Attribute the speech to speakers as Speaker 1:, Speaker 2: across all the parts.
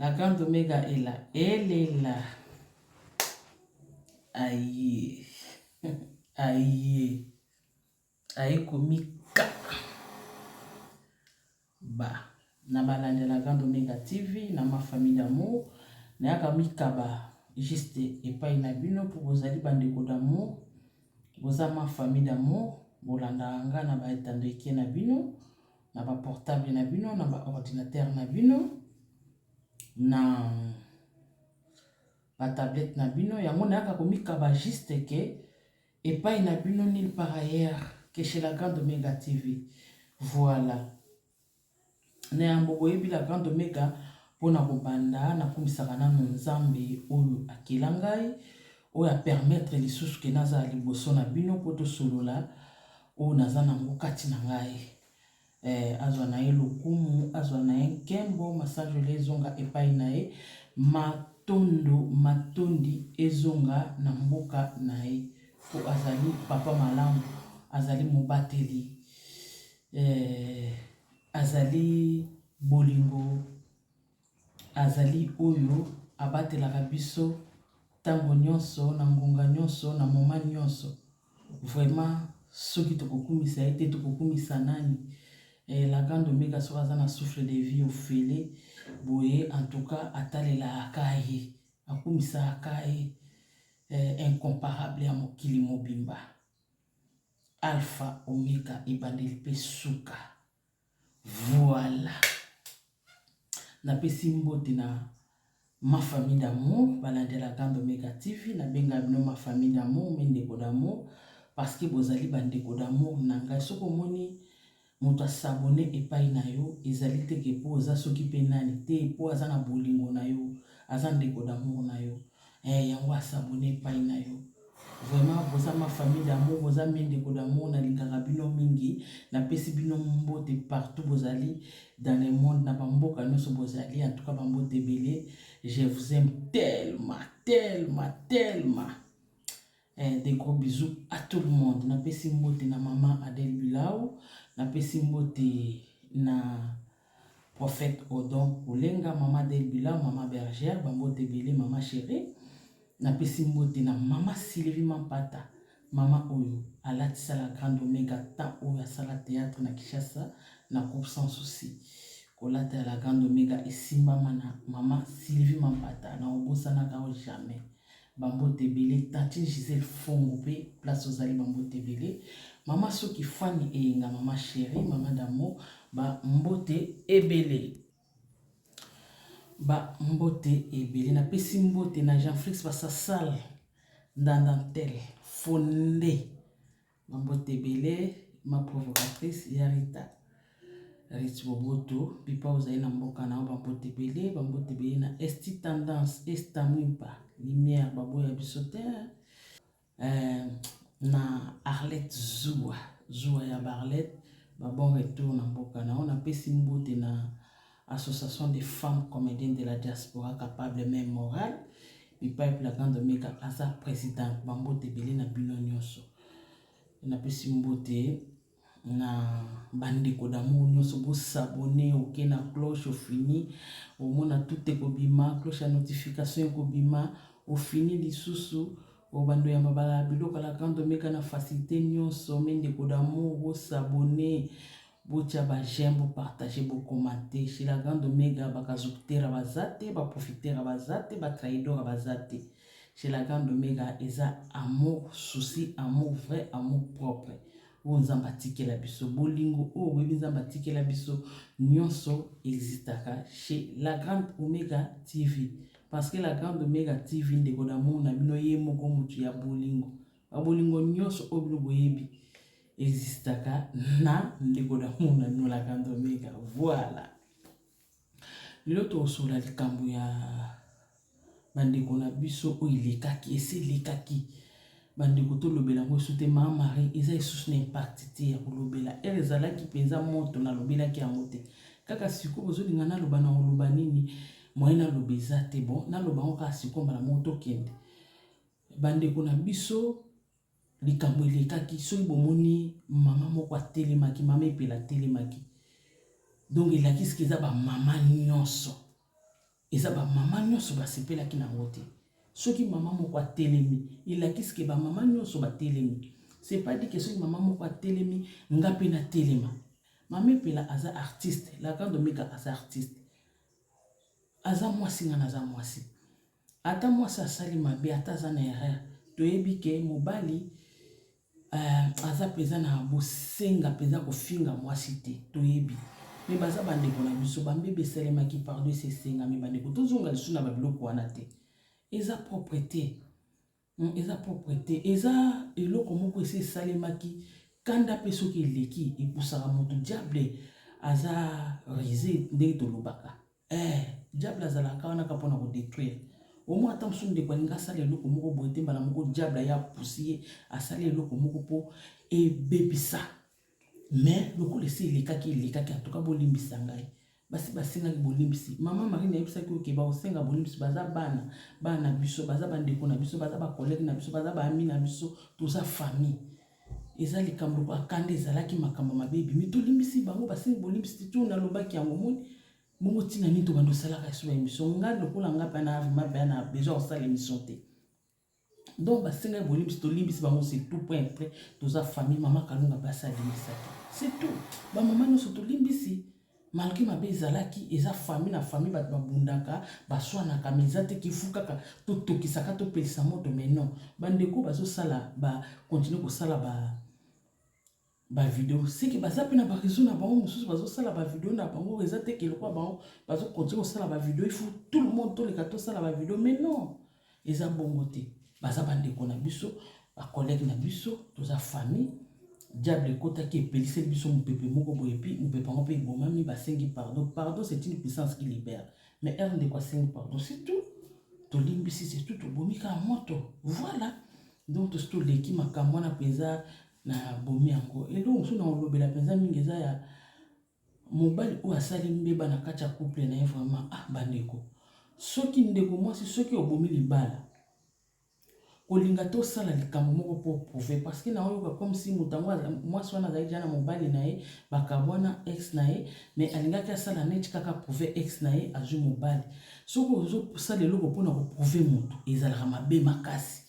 Speaker 1: La grande omega est là. Elle est là. Aïe. Aïe. Aïe komika. Ba. Na balandi la grande omega TV, na ma famille d'amour. Nayaka mikaba juste epai na bino mpo bozali bandeko d'amour. Boza ma famille d'amour. Bolandaka nga na baetando eke na bino. na ba portable na bino, na ba ordinateur na bino, na ba tablette na bino. Yango nayaka komikaba juste ke epai na bino nil par ailleurs que chez la grande Omega TV. Voilà. Na yango boyebi la grande Omega mpo na kobanda nakumisaka nano nzambe oyo akela ngai oyo apermettre lisusu ke nazala liboso na bino mpo tosolola oyo naza na yango kati na ngai eh, azwa na ye lokumu azwa na ye nkembo masanjoli ezonga epai na ye matondo matondi ezonga na mboka na ye mpo azali papa malamu azali mobateli eh, azali bolingo Azali oyo abatelaka biso tango nionso, na ngonga nionso, na moment nionso. Vraiment soki tokokumisa ye te tokokumisa nani? Eh, la grande omega soki aza na souffle de vie ofele boye, en tout cas atalela aka ye, akumisa aka ye eh, incomparable ya mokili mobimba, alpha omega, ebandeli pe suka. Voilà. Napesi mbote na ma famille d'amour balandela Kando Mega TV nabenga bino ma famille d'amour mes ndeko d'amour parce que bozali bandeko d'amour na ngai soki omoni moto asabone epai na yo ezali te ke mpo oza soki mpe nani te mpo aza na bolingo na yo aza ndeko d'amour na yo Eh yango a s'abonner epayi na yo. Vraiment boza ma famille d'amour boza mes ndeko d'amour na lingaka bino mingi na pesi bino mbote partout bozali dans le monde na ba mboka nioso bozali en tout cas ba mbote ebele je vous aime tellement tellement tellement Eh, des gros bisous à tout le monde. Na pesi mbote na maman Adèle Bilao, na pesi mbote na prophète Odon Olenga, maman Adèle Bilao, maman Bergère, bambote belé, maman chérie. Na pesi mbote na maman Sylvie Mampata, maman oyo alatisa la grande omega temps oyo asala théâtre na Kinshasa na groupe sans souci. Kolata ya la grande omega esimbama na maman Sylvie Mampata, na obosanaka o jamais. Ba mbote ebele tantine Gisèle fongo pe place ozali ba mbote ebele maman soki fany eyenga maman cherie maman d'amour ba mbote ebele ba mbote ebele na pesi mbote na Jean Flix basasal ndandantel fonde Ba mbote ebele ma provocatrice ya Rita. Rich Boboto, bipa ozali na mboka na yo ba mbote ebele, ba mbote ebele na Esti Tendance, Esta Mwimpa, Lumière baboya biso te. Euh, na Arlette Zua, Zua ya Barlette, ba bon retour na mboka na yo. Napesi mbote na Association des femmes comediennes de la diaspora capable mais morale bipai plakan domeka aza presidente bambote ebele na bino nyonso napesi mbote na bandeko d'amour nyonso bosabone oke na cloche ofini omona tute ekobima cloche ya notification ekobima ofini lisusu obando ya mabala biloko la grande omeka na facilité nyonso me ndeko d'amour bosabone Botia ba j'aime bo partager bo commenter chez la grande omega ba kazukutera baza te ba profitera baza te ba traidora baza te chez la grande omega eza amour souci amour vrai amour propre oyo nzambe atikela biso bolingo oyo boyebi nzambe atikela biso nyonso existaka chez la grande omega tv parce que la grande omega tv ndeko d'amour na bino ye moko motu ya bolingo Ba bolingo nyonso oyo bino boyebi existaka na ndeko na mona nolaka ndomeka voilà lelo tokosola likambo ya bandeko na biso oyo elekaki esi elekaki bandeko tolobela yango esu te maa marie eza esusu na impakti te ya kolobela ere ezalaki mpenza moto nalobelaki yango te kaka sikoyo bozolinga naloba na koloba nini moye naloba eza te bon naloba yango kaka sikoyo mbala moko tokende Bandeko na biso, likambo elekaki, soki bomoni mama moko atelemaki, mama epela atelemaki. Donc elakisi ke eza ba mama nyonso, eza ba mama nyonso basepelaki na yango te. Soki mama moko atelemi, elakisi ke ba mama nyonso batelemi. C'est pas dit que soki mama moko atelemi, nga pe natelema. Mama epela aza artiste, la grande omega aza artiste. Aza mwasi, nga naza mwasi. Ata mwasi asali mabe ata aza na erreur toyebi ke mobali euh, aza mpenza na bosenga mpenza kofinga mwasi te toyebi me baza bandeko na biso bambebe esalemaki pardon esesengami bandeko tozonga lisusu na babiloko wana te eza propre te Hum eza propre te eza eloko moko esi esalemaki kanda pe soki eleki epusaka moto diable aza rise ndenge tolobaka eh diable azalaka wana ka mpona kodetruire omoi ata mosusu ndeko alingi asala eloko moko boye te mbala moko diable aya apusi ye asali eloko moko mpo ebebisa mais lokola esi elekaki elekaki antuka bolimbisa ngai basi basengaki bolimbisi mama marine ayebisaki oke bakosenga bolimbisi baza bana bana na biso baza bandeko na biso baza bakolege na biso baza baami na biso toza famille eza likambo lokola kanda ezalaki makambo mabe ebimi tolimbisi bango basengi bolimbisi te to nalobaki yango moni bongo ntina nini tobanda osalaka esoba emission ngai lokola ngai mpe na avma mpe na besoin kosala emission te donc basengaki bolimbisi tolimbisi bango c'est tout point après toza famille mama kalunga basi alimbisaki c'est tout bamama nyonso tolimbisi malgré mabe ezalaki eza famille na famille bato babundaka baswanaka ma eza te kifu kaka totokisaka topelisa moto mais non bandeko bazosala bakontinue kosala ba ba video seke baza mpe na ba réseau na bango mosusu bazosala ba video na bango eza te ke lokola bango bazokontinue kosala ba video ifu tout le monde toleka tosala ba video mais non eza bongo te baza bandeko na biso bacollègue na biso toza famille diable ekotaki epeliseli biso mopepe moko boye epi mopepe yango mpe ebomami basengi pardon pardon c'est une puissance qui libère mais heure ndeko asengi pardon c'est tout tolimbisi c'est tout tobomi kaka moto voilà donc tosi toleki makambo wana mpenza Na bomi yango. Eloko mosusu na kolobela penza mingi eza ya mobali oyo asali mbeba na kati ya couple na ye vraiment ah ba ndeko. Soki ndeko mwasi soki obomi libala kolinga te osala likambo moko po prouver parce que na oyoka comme si moto yango mwasi wana azali deja na mobali na ye bakabwana ex na ye mais alingaki asala neti kaka prouver ex na ye azwi mobali. Soki ozosala eloko mpo na koprouver moto ezalaka mabe makasi.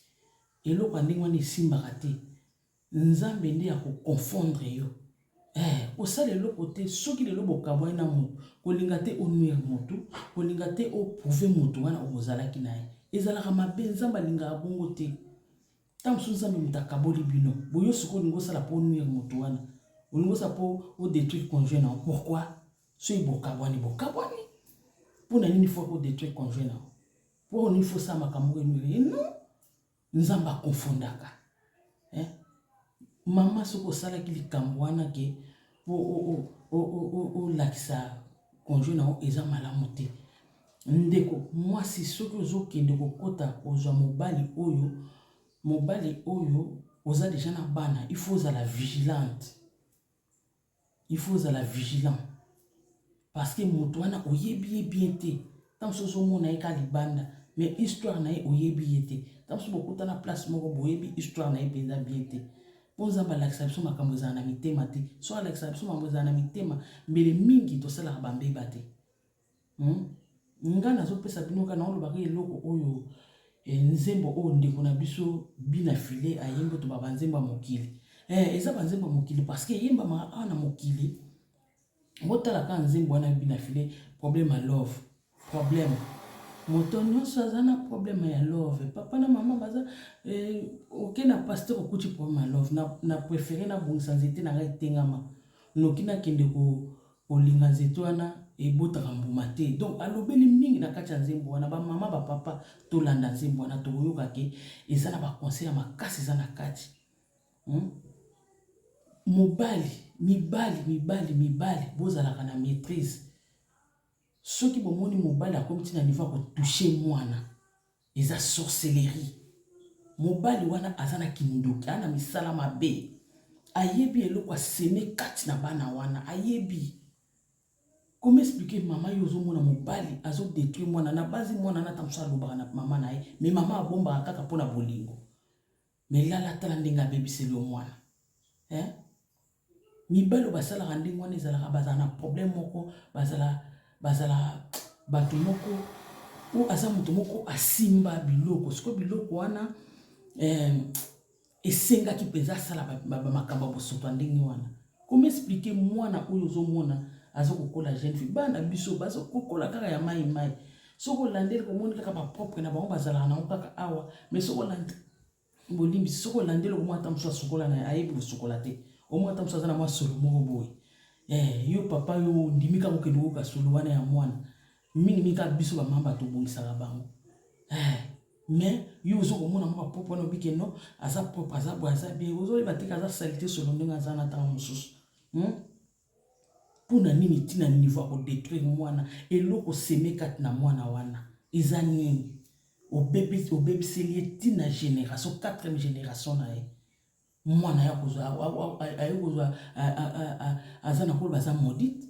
Speaker 1: Eloko ya ndenge wana esimbaka te. Nzambe nde ako confondre yo. Eh, kosala eloko te soki lelo bokabwani na moto kolinga te onuire moto kolinga te oprouve moto wana okozalaki na ye ezalaka mabe nzambe alingaka bongo te ntango mosusu nzambe moto akaboli bino boyo sikoyo olingi osala mpo onuire moto wana olingi osala mpo odétruire conjoint na yo pourkui soki bokabwani bokabwani mpo na nini fo kodétruire conjoint na yo Pourquoi on faut ça makambo emile non nzambe akonfondaka eh? mama soki osalaki likambo wana ke olakisa conjoint na yo eza malamu te ndeko mwasi soki ozokende kokɔta kozwa mobali oyo mobali oyo oza deja na bana il faut ozala vigilante Il faut ozala vigilant parce que moto wana oyebi ye bien te ntango mosusu ozomona ye kaka libanda mais histoire na ye oyebi ye te ntango mosusu bokutana place moko boyebi histoire na ye mpenza bien te mpo nzambe alakisa biso makambo ezala na mitema te so alakisa biso makambo ezala na mitema mbele mingi tosalaka bambeba te Hmm? Nga nazopesa bino ka naolobaka eloko oyo eh, nzembo oyo ndeko na biso bina file ayembi to baba nzembo ya mokili eh, eza banzembo ya mokili parceke eyembamaka awa na mokili botala kaka nzembo wana bina file problème ya love problème moto nyonso aza na problème ya love papa na mama baza eh, oke na paster okuti problème ya love na, na préféré nabongisa nzete na ngai etengama noki nakende ko Kolinga nzete wana ebotaka mbuma te. Donc alobeli mingi na kati ya nzembo wana ba mama ba papa tolanda nzembo wana tokoyoka ke eza na ba conseil ya makasi eza na kati. Hmm? Mobali, mibali, mibali, mibali bozalaka na maîtrise. Soki bomoni mobali akomi ti na niveau ya kotouche mwana Eza sorcellerie mobali wana aza na kindoki aza na misala mabe ayebi eloko aseme kati na bana wana ayebi Comment expliquer maman yo ozomona mobali azo détruire mwana na base mwana na tamso alobaka na maman na ye mais maman abombaka kaka pona bolingo Mais lala tala ndenge abebiseli yo mwana eh? mibali oyo basalaka ndenge wana ezalaka bazala na problème moko bazala bazala bato moko oyo aza moto moko asimba biloko sikoyo biloko wana eh, esengaki mpenza asala makambo ya bosoto ya ndenge wana Comment expliquer mwana oyo ozomona aza kokola jeune fille bana biso baza kokola kaka ya mai mai soki olandeli komoni kaka bapropre na bango bazalaka nango kaka awa mais soki olandi bolimbisi soki olandeli okomona ata mosusu asukola na ayebi kosukola te omona ata mosusu aza na mwa solo moko boye eh, yo papa yo ondimi kaka okende koyoka solo wana ya mwana mingi mingi kaka biso bamama bato obongisaka bango eh, mais yo ozo komona mwa propre wana obi keno aza propre aza boye aza bien ozoyeba te aza salite solo ndenge aza na ntango mosusu hmm? mpo na nini ntina niveau ya kodetruire mwana eloko seme kati na mwana wana eza nini obebiseli ye ntina génération quatrième génération na ye mwana ya kozwa aye kozwa aza na kolo baza maudite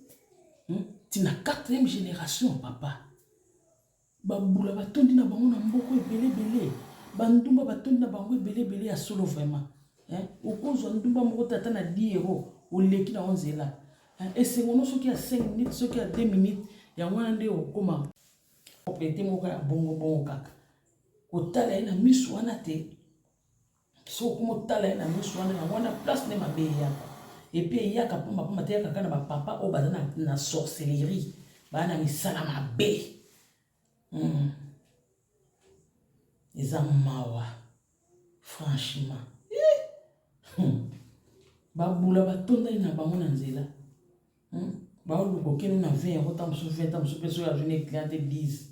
Speaker 1: hmm? ti na quatrième génération papa bambula batondi na bango na mboko ebele ebele bandumba batondi na bango ebele ebele ya solo vraiment okozwa ndumba moko tata na 10 euro oleki na onzela esengo no soki ya 5 minutes soki ya 2 minutes yango wana nde okoma propriété moko ya bongo bongo kaka kotala ye na miso wana te soki motala ye na miso wana yango wana place nde mabe eyaka epuis eyaka mpamba mpamba te eyaka kaka na bapapa oyo baza na, na sorcellerie baa na misala mabe mm. eza mawa franchement eh. hmm. babula batondani na bango na nzela hmm. baoluka okende na 20 yango ntango mosusu 20 ntango mosusu mpe soki azwi na eclate 10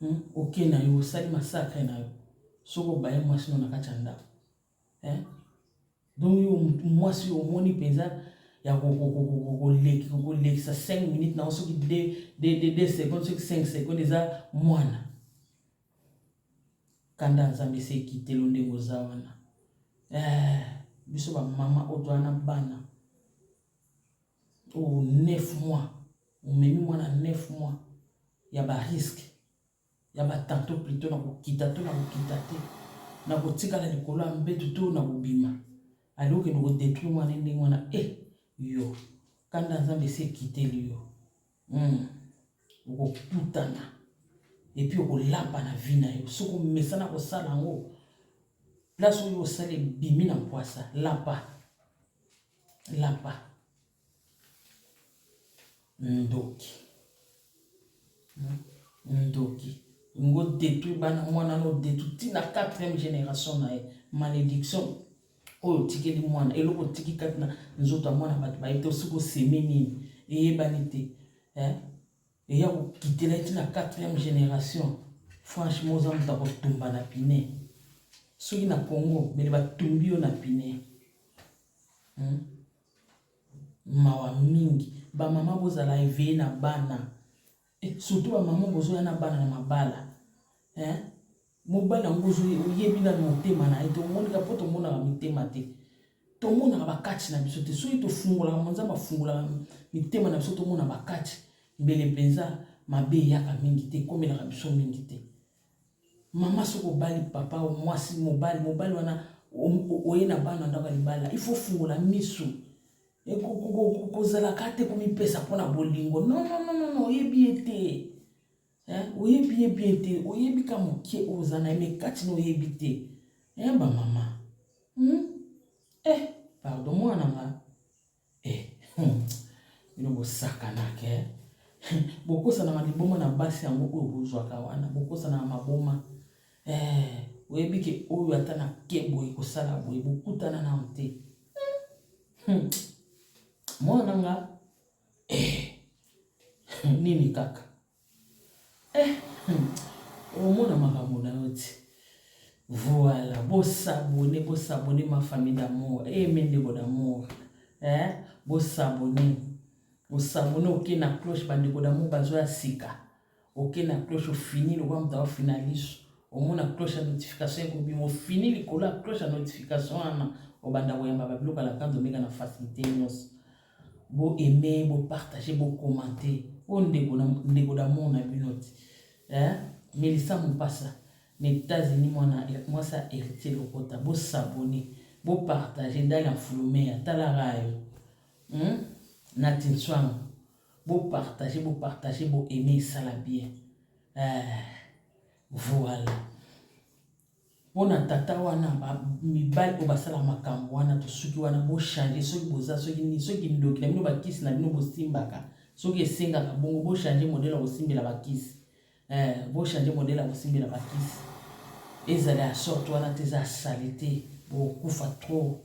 Speaker 1: Hum oke na yo osali masakre na yo soki obaye mwasi no na kati ya ndako eh? donc yo mwasi oyo omoni mpenza ya kolekisa 5 minutes na yo soki 2 seconde soki 5 seconde eza mwana kanda nzambe esi ekitelo ndenge oza wana eh, biso bamama oyo toa na bana Oh, neuf mois. Omemi mwana neuf mois ya ba risque ya ba tanto plutôt na kokita to na kokita te na kotikala likolo ya mbetu to na kobima alingi okende kodetruire mwana ndenge wana e eh, yo kanda nzambe esi ekiteli yo Hmm. okokutana epi okolapa na vi na yo soki omesana kosala yango place oyo osala ebimi na mpwasa lapa lapa ndoki hmm. ndoki ngo detruit bana mwana no detruit ntina 4e génération na ye malédiction oyo otikeli mwana eloko otiki kati na nzoto ya mwana bato bayebi te osiko oseme nini eyebani te eh? eya kokitela eti na quatrième génération franchement oza moto akotumba na pine soki na congo bele batumbi yo na pine hmm? mawa mingi bamama bozala eveye na bana Eh, surtout ba maman bozo ya na bana na mabala. Hein? Mobali yango ozo oyebi na motema na ye to moni ka poto mona ba mitema te. To mona ba catch na biso te. Soki to fungola ka monza ba fungola mitema na biso to mona ba catch. Mbele penza mabe yaka mingi te komela ka biso mingi te. Mama soko bali papa o mwasi mobali mobali wana oye na bana ndaka libala. Il faut fungola misu. kozala ka te komipesa mpo na bolingo nononono oyebi ye te oyebi ye bien te oyebi ka moke oyo oza na ye me kati na oyebi te bamama hmm? eh pardon mwana nga eh hmm. bino bosakanaka eh? bokosanaka liboma na basi yango oyo bozwaka wana bokosanaka maboma eh, oyebi ke oyo ata na ke boye kosala boye bokutana nano te Hmm. Mwana nga eh. Hmm, nini kaka eh. Hmm. Omona makambo na yo ti voilà bosabone bosabone ma famille d'amour e eh, mendeko d'amour eh? bosabone osabone oke na cloche bandeko d'amour bazo ya sika Oke na cloche ofini lokola moto afina liso, omona cloche ya notification ekobima, ofini likolo ya cloche ya notification wana, obanda koyamba ba biloko ya Lacan Domeka na facilite nyonso. Bo aimer, bo partager, bo commenter. Oyo ndeko na ndeko d'amour na bino ti. Eh, Melissa Mupasa, na États-Unis mwana mwasi ya Heritier Lokota, bo s'abonner, bo partager, Dalia Mfulumea, tala rayo. Hmm? Nati Nswango. Bo partager, bo partager, bo aimer esala bien. Eh, voilà. Pona tata wana ba mibali oyo basala makambo wana tosuki wana bo changer soki boza soki nini soki ndoki na bino bakisi na bino bosimbaka soki esengaka bongo bo changer modele ya kosimbela bakisi eh, bo changer modele ya kosimbela bakisi ezala ya sorte wana te eza salite bokufa trop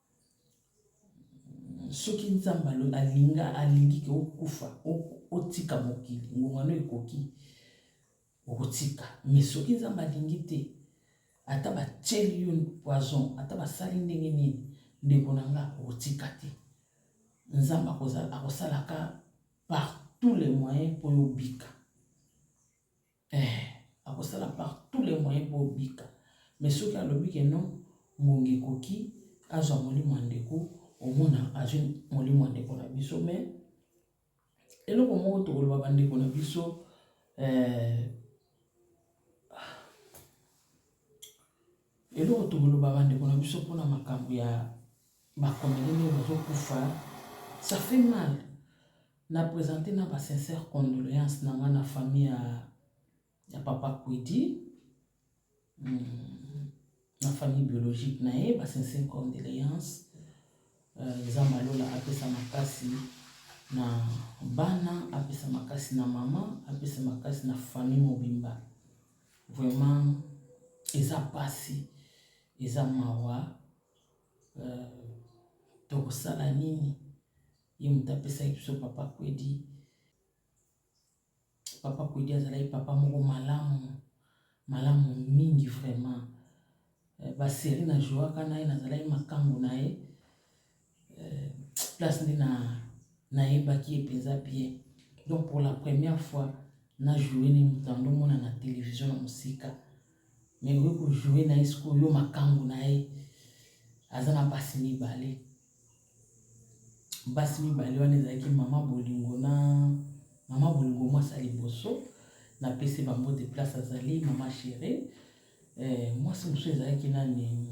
Speaker 1: soki nzambe alinga alingi ke okufa otika mokili ngongano ekoki okotika mais soki nzambe alingi te ata batieli yo poison ata basali ndenge nini ndeko na nga okotika te nzambe akosalaka par tous les moyens mpo yo obika Eeh akosala par tout les moyens po obika mais soki alobi ke non ngonga ekoki azwa molimo ya ndeko omona azwi molimo ya ndeko na biso mais eloko moko tokoloba bandeko na biso eh, Eloko tokoloba bandeko na biso mpo na makambo ya bakomeli nde bazokufa ça fait mal na présente na ba sincère condoléance na nga na famille ya, ya papa kwidi hmm, na famille biologique na ye ba sincère condoléance euh, nzambe euh, alola apesa makasi na bana apesa makasi na mama apesa makasi na famille mobimba Vraiment eza pasi, eza mawa euh, tokosala nini? Ye moto apesaki biso papa Kwedi. Papa Kwedi azalaki papa moko malamu malamu mingi vraiment. Ba serie na jouaka naye nazalaki makangu naye place nde na nayebaki ye penza bien donc pour la première fois na joue ne moto yango omona na television na mosika mais okoki kojoue na ye sikoyo yo makangu na ye aza na basi mibale basi mibale wana ezalaki mama bolingo na mama bolingo mwasi ya liboso napesi bango de place azali mama chérie eh, mwasi mosusu ezalaki nani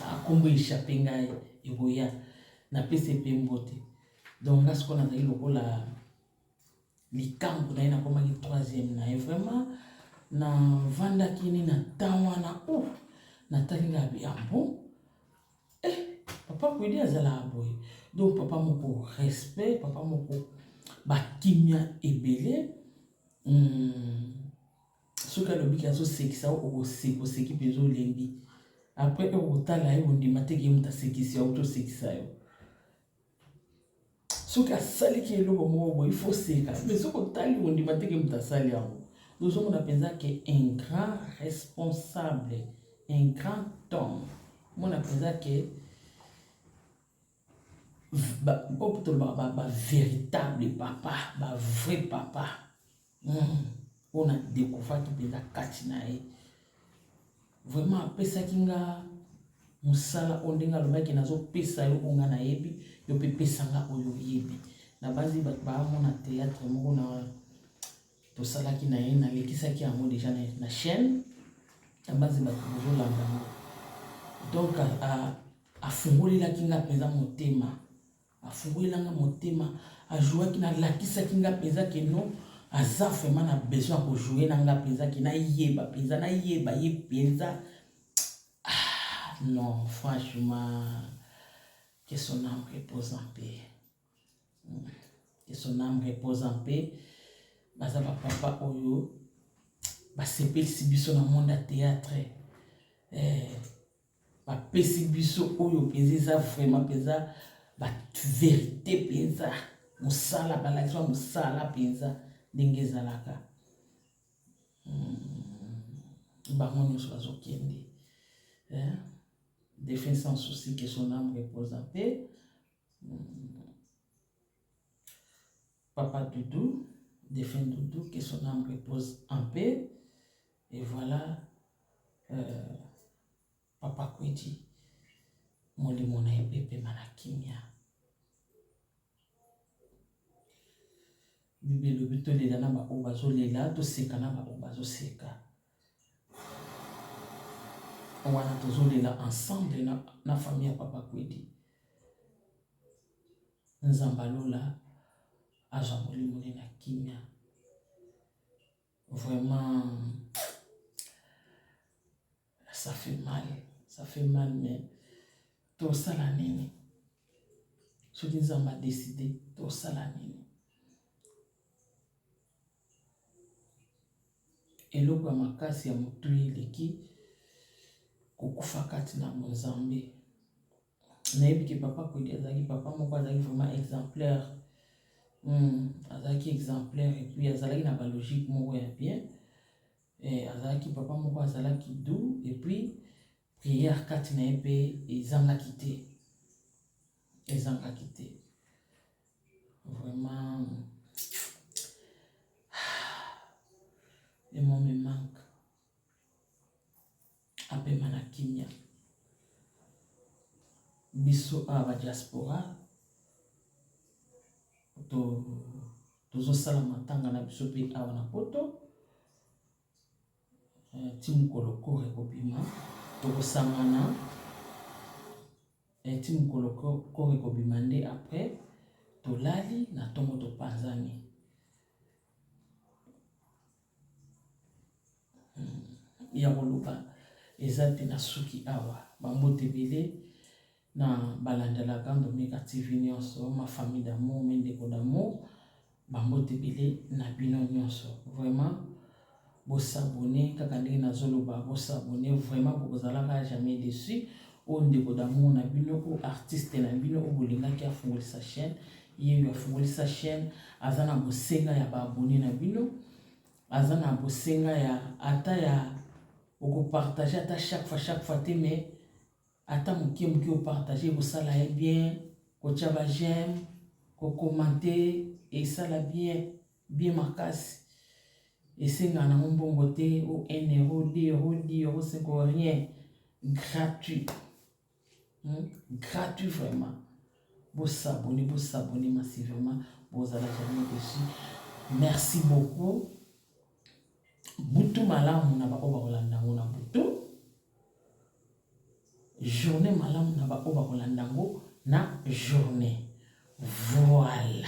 Speaker 1: akombo ah, ah, echappe ngai ekoya napesi mpe mbote donc nga sikoyo nazali lokola likambo na ye nakomaki troisième na ye vraiment navandaki ni na temps wana o oh, natali nga biambo eh, papa kwedi azalaka boye donc papa moko respect papa moko bakimia ebele hmm. soki alobiki azosekisa okoseki mpenza olembi après okotala ye ondima te ke moto asekisi yo to osekisa yo soki asaliki eloko moko boye ifo seka me soki otali ondima teke moto asali yango ozomona mpenza ke un grand responsable un grand homme omona mpenza ke mpo tolobaka bavéritable papa bavrai papa Hmm, oyo na découvraki mpenza kati na ye vraiment apesaki nga mosala oyo ndenge alobaki nazopesa yo oyo nga nayebi yo mpe pesa nga oyo oyebi nabanzi bato baamona théâtre moko na tosalaki na ye nalekisaki yango déjà na chaîne nabanzi bato bozolanda yango donc afungolelaki nga mpenza motema Afungwela nga motema, a jouaki na lakisaki nga penza que non aza vraiment na besoin ya ko jouer na nga penza que na yeba penza na yeba ye penza ah non franchement que son âme repose en paix hmm. que son âme repose en paix baza ba papa oyo basepelisi biso na monde ya théâtre eh, bapesi biso oyo mpenza eza vraiment mpenza baverite mpenza mosala balakisa mosala mpenza ndenge ezalaka hmm, bango nyonso bazokende eh? défunt sans souci que son âme repose en paix. Hmm. Papa Doudou, défunt Doudou, que son âme repose en paix. Et voilà euh, Papa Kwedi molimo na ye epema na kimia. Bible elobi tolela na baoyo bazolela, toseka na baoyo bazoseka. Wana tozolela ensemble na, na famille ya Papa Kwedi. Nzambalola azwa molimo ne na kimia. Vraiment, ça fait mal, ça fait mal, mais tosala nini? Soki Nzambe a décidé, tosala nini? eloko ya makasi ya motui eleki kokufa kati na bonzambe nayebi ke papa kwedi azalaki papa moko azalaki vraiment exemplaire hmm, azalaki exemplaire epuis azalaki na balogique moko ya bien eh, azalaki papa moko azalaki dou epuis prière kati na ye mpe ezangaki te ezangaki te vraiment le mot me manque apema na kimia. Biso awa ba diaspora to tozosala matanga na biso mpe awa na poto eh, ti mokolo koro ekobima tokosangana eh, ti mokolo koro ekobima nde après tolali na ntongo topanzani ya koloba eza te na suki awa bambote ebele na balandelaka ndomika tv nyonso ma famille d'amour mi ndeko d'amour bambote ebele na bino nyonso vraiment bosabone kaka ndenge nazoloba bosabone vraiment bokozalaka jamais dessus oyo ndeko d'amour na bino oyo artiste na bino oyo bolingaki afungolisa chaîne Yeyo afungoli sa chaine aza na bosenga ya ba abonne na bino aza na bosenga ya ata ya okopartage ata chaque fois chaque fois te mais ata moke moke opartage ekosala ye bien kotya ba j'aime kokomante esala bien bien makasi esenga nango mbongo te o 1 euro 2 euro 10 euro 5 rien gratuit Hmm? Gratuit vraiment. Vous s'abonnez, vous s'abonnez massivement. Vous allez jamais dessus. Merci beaucoup. Butu malamu na ba oba kolanda ngo na butu. Journée malamu na ba oba kolanda ngo na journée. Voilà.